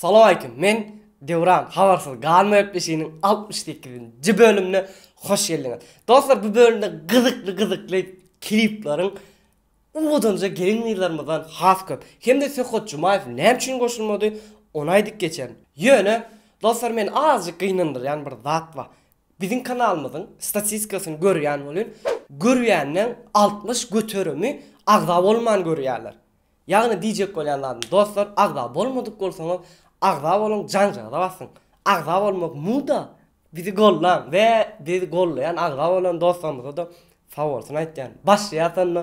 Salawaleýkim. Men Döwran habarsyz galma gepleşiginiň 68-nji bölümine hoş geldiňiz. Dostlar, bu bölümde gyzykly gyzykly klipleriň uwudanja gelin gyzlarymyzdan has köp. Hem-de Söhbet Jumaýew näme üçin goşulmady, ony aýdyp geçerin. Ýöne dostlar, meni azajyk gynandyrýan bir zat bar. Biziň kanalymyzyň statistikasyny görýän bolun, görýänleň altmyş göterimi agza bolman görýärler. Ýagny diýjek bolýan zadym dostlar agza bolmadyk bolsaňyz agza boluň janjagda basyň. Agza bolmak muda bizi gollaň we bizi gollaýan agza bolan dostlarymyzada sag bolsun aýtýan. Başlaýas onda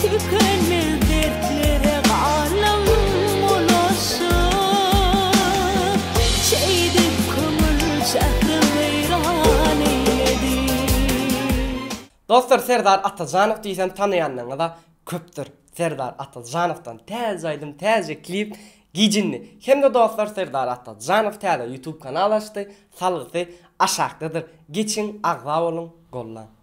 Tükenmez dertlere galam bulaşyp, Çeýdip köňül şähri weýran eýledi. Dostlar Serdar Atajanow diýsem tanaýanlaryňyza köpdür. Serdar Atajanowdan täze aýdym, täze klip gijindi. Hemde dostlar Serdar Atajanow täze YouTube kanal açdy, salgysy aşakdadyr. Geçiň agza boluň, gollaň.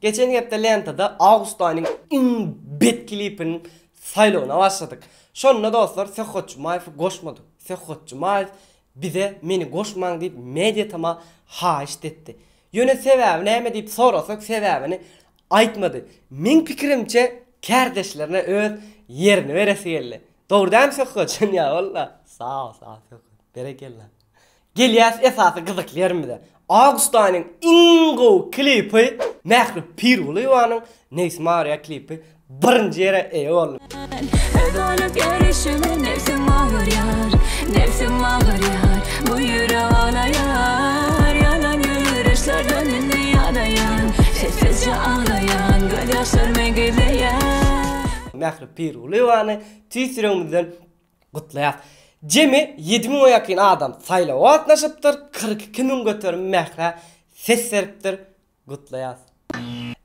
Geçen hepde lentada awgust aýynyň iň bet klipiniň saýlawyna başladyk. Şonda dostlar Söhbet Jumaýewi goşmadyk. Söhbet Jumaýew bize meni goşmaň diýip mediatama haýyşt etdi. Ýöne sebäbi näme diýip sorasak sebäbini aýtmady. Meň pikirimçe kärdeşlerine öz ýerini beresi geldi. Dogry dämi Söhbet? Ýa walla. Sag bol sag bol Söhbet. Berekella. Gelýäs esasy gyzykly ýerimize. Awgust aýynyň iň gowy klipi Mähri Pirgulyýewanyň Nebs Maria klipi birinji ýere eýe boldy. Öz bolup ýörüşime nebsim agyrýar, nebsim agyrýar, bu ýürek alaýar, ýalan ýöreşlerden indi ýadaýan, sessizje aglaýan, gözýaşlarmy gizleýän. Mähri Pirgulyýewany tüýs ýüregimizden Gutlaýas! Jemi ýedi müňe ýakyn adam saýlawa gatnaşypdyr, kyrk iki müň göterim mährä ses beripdir. Gutlaýas!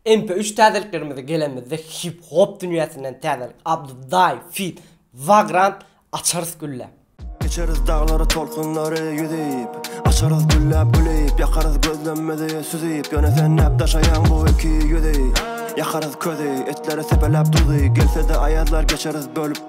MP üç täzeliklerimize gelenimizde hip hop dünýäsinden täzelik Abduday feat. Vagrant Açarys gülläp. Geçeris daglary tolkunlary ýüzüp Açarys gülläp gülüp Ýakarys gözlemmizi süzüp Ýöne sen näp daşaýaň bu iki ýüzi Ýakarys közi Etleri sepeläp duzy Gelse-de aýazlar geçeris bölüp.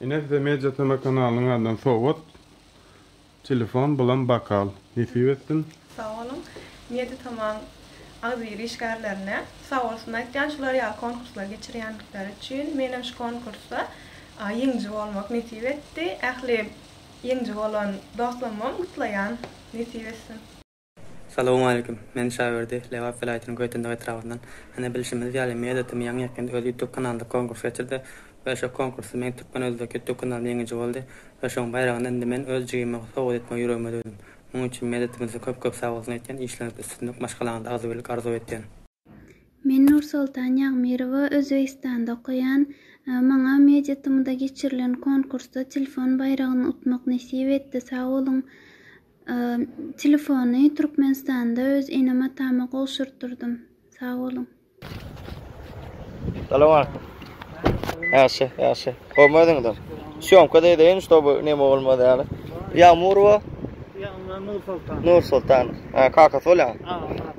Ine size media tv kanalynyň adydan sowgat telefon bulam bakal nesip etsin. Sag boluň Media TM-yň agzybir işgärlerine sag bolsun aýtýan şular ýaly konkurslar geçirýändikleri üçin menem şu konkursda ýeňiji bolmak nesip etdi ähli ýeňiji bolan dostlamam gutlaýan nesip etsin. Salowmaleýkim. Men Şaberdi, Lebap welaýatynyň Göýtendag etrabyndan. Hany bilşimiz ýaly, Media TM ýaňy ýakynda öz ýutub kanalynda konkurs geçirdi we şo konkursda meň Türkmen Özbek ýutub kanalymy ýeňiji boldy we şoň baýragyny indi men öz jigime sowgat etmegi ýüregime düwdüm. Munuň üçin Media TM size köp köp sagbolsun aýtýan, işleriňizde üstünlik, maşgalaňyzda agzybirlik arzuw etýän. Men Nursoltan Ýagmyrowa Özbegistanda okaýan. Maňa Media TM-da geçirilen konkursda telefon baýragyny utmak nesip etdi. Sag boluň. Telefony Türkmenistanda öz enem atama gowşurtdyrdym. Sag boluň. Salam aleýkum. Ýagşy, ýagşy. Gowymy özüňizem? Sýomka-da edeýin, ştoby neme bolmaz ýaly. Ýagmyrowa? Ýagmyr Nursoltanow. Nursoltanow. Kakasy bolýaňyz?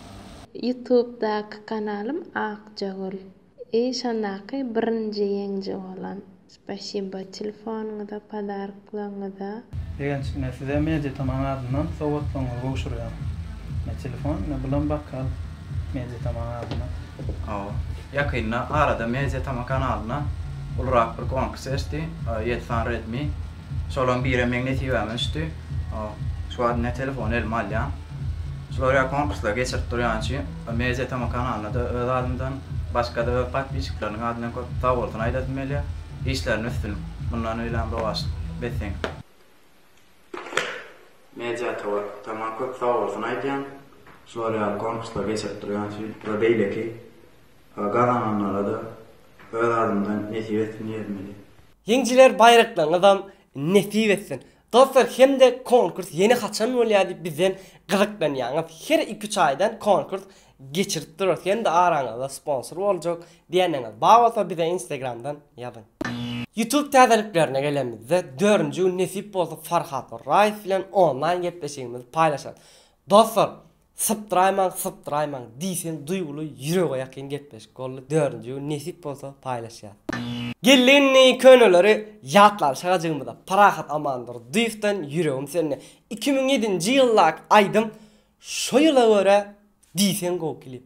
Youtube daky kanalym Akjagül. I şondaky birinji ýeňji bolan. Spasibo telefonyňyza podarklaryňyza. Begenç ine size Media Taman adyndan sowgatlygyňyzy gowşurýan. Ne telefon ne bulam bokal Media Taman adyndan. Hawa. Ýakynda arada Media Tama kanalyna ulurak bir konkurs geçdi. Ýedi sany Redmi. Şolaryň birem meň nesibäme düşdi. Şu wagt ine telefony elime alýan. Şular ýaly konkurslary geçirip durýan üçin Media Tama kanalyna-da öz adymdan, başga-da öz podpisçikleriniň adyndan köp sagbolsun aýdasym gelýär. Işlerinde üstünlik, mundan öýlem rowaçlyk beseň. Media Tama köp sagbolsun aýdýan. Şular ýaly konkurslary geçirip durýan üçin we beýleki gazananlara-da öz adymdan nesip etsin diýesim gelýär. Ýeňijiler baýraklaryňyzam nesip etsin. Dostlar hemde konkurs ýene haçan bolýar diýip bizden gyzyklanýaňyz. Her iki üç aýdan konkurs geçirip durarys. Hemde araňyzda sponsor boljak diýýänleriňiz bar bolsa bize instagramdan ýazyň. Youtube täzeliklerine gelenimizde dördünji gün nesip bolsa Farhat Orraýew bilen onlaýn gepleşigimizi paýlaşarys. Dostlar Sypdyraýmaň sypdyraýmaň diýseň duýguly ýürege ýakyn gepleşik boldy dördünji gün nesip bolsa paýlaşýas. Geldi indi köneleri ýatlap şagajygymyza Parahat Amandur dyýewden ýüregim söndi iki müň ýedinji ýyldaky aýdym şo ýyla görä diýseň gowy klip.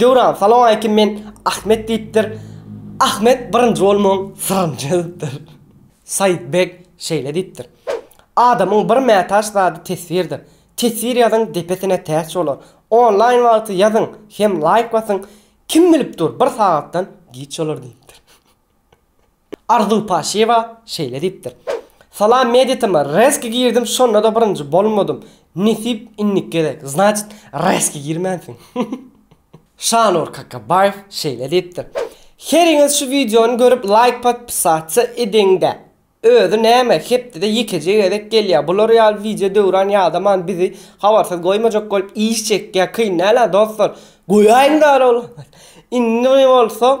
Döwran salawmaleýkim men Ahmet diýipdir. Ahmet birinji bolmagyň syryny çözüpdir. Said beg şeýle diýipdir. Adamyň bir mätaç zady teswirdir. Teswir ýazyň depesine täç bolar. Onlaýn wagty ýazyň hem laýk basyň kim bilip dur bir sagatdan giç bolar diýipdir. Arzuw Paşiýewa şeýle diýipdir, Salam mediatama rezki girdim şondada birinji bolmadym nesip indiki gezek znaçit rezki girmänsiň. Şanur Kakabaýew şeýle diýipdir, Heriňiz şu wideony görüp laýk podpisasiýa ediňdä. Özi näme hepdede ýekeje gezek gelýä bular ýaly wideo Döwran ýadaman bizi habarsyz goýmajak bolup iş çekýä kyn dälä dostlar goýaýyňda ol indi bolsa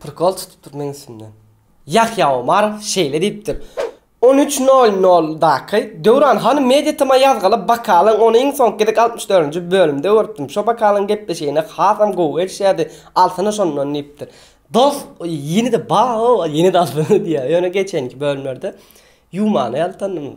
Prikol tutupdyr meň üstümden. Ýahýa Omarow şeýle diýipdir, On üç nol noldaky Döwran hanym Media TM-a ýazgaly Bakalyň ony iň soňky gezek altmyş dördünji bölümde görüpdim. Şo Bakalyň gepleşigine hasam gowy gelişýärdi. Alsana şondan diýipdir. Dos, ýene-de ba-ow, ýene-de alsana diýýär. Ýöne geçenki bölümlerde ýuwmana ýaltandym.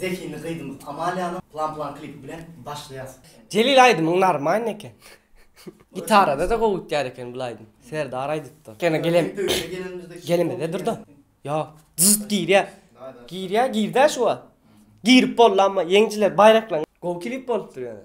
Zehinli gyzymyz Amaliýanyň Plan-plan klipi bilen başlaýas. Jelil aýdymyň narmaýny eken. Gitarada-da gowy gitýär eken bul aýdym. Serdar aýdypdyr. Ýene gelem. Gelemede durda. Ýok. Jyst girýär. Girýär, gird-ä şu wagt. Girip boldy amma ýeňjiler baýraklaň. Gowy klip bolupdyr ýöne.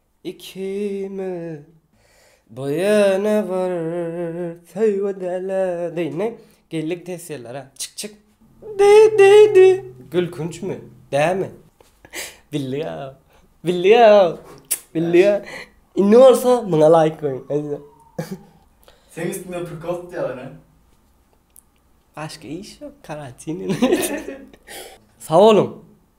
Ikimiz bu ýöne bir söýgi däle diýne geldik test ýyllara çyk çyk. Di di di gülkünçmi dämi. Bildik a bildik a bildik a indi bolsa muňa laýk goýuň hadi. Seň üstüňde prikol tutýarlar hä. Başga iş ýok karantin. Sag boluň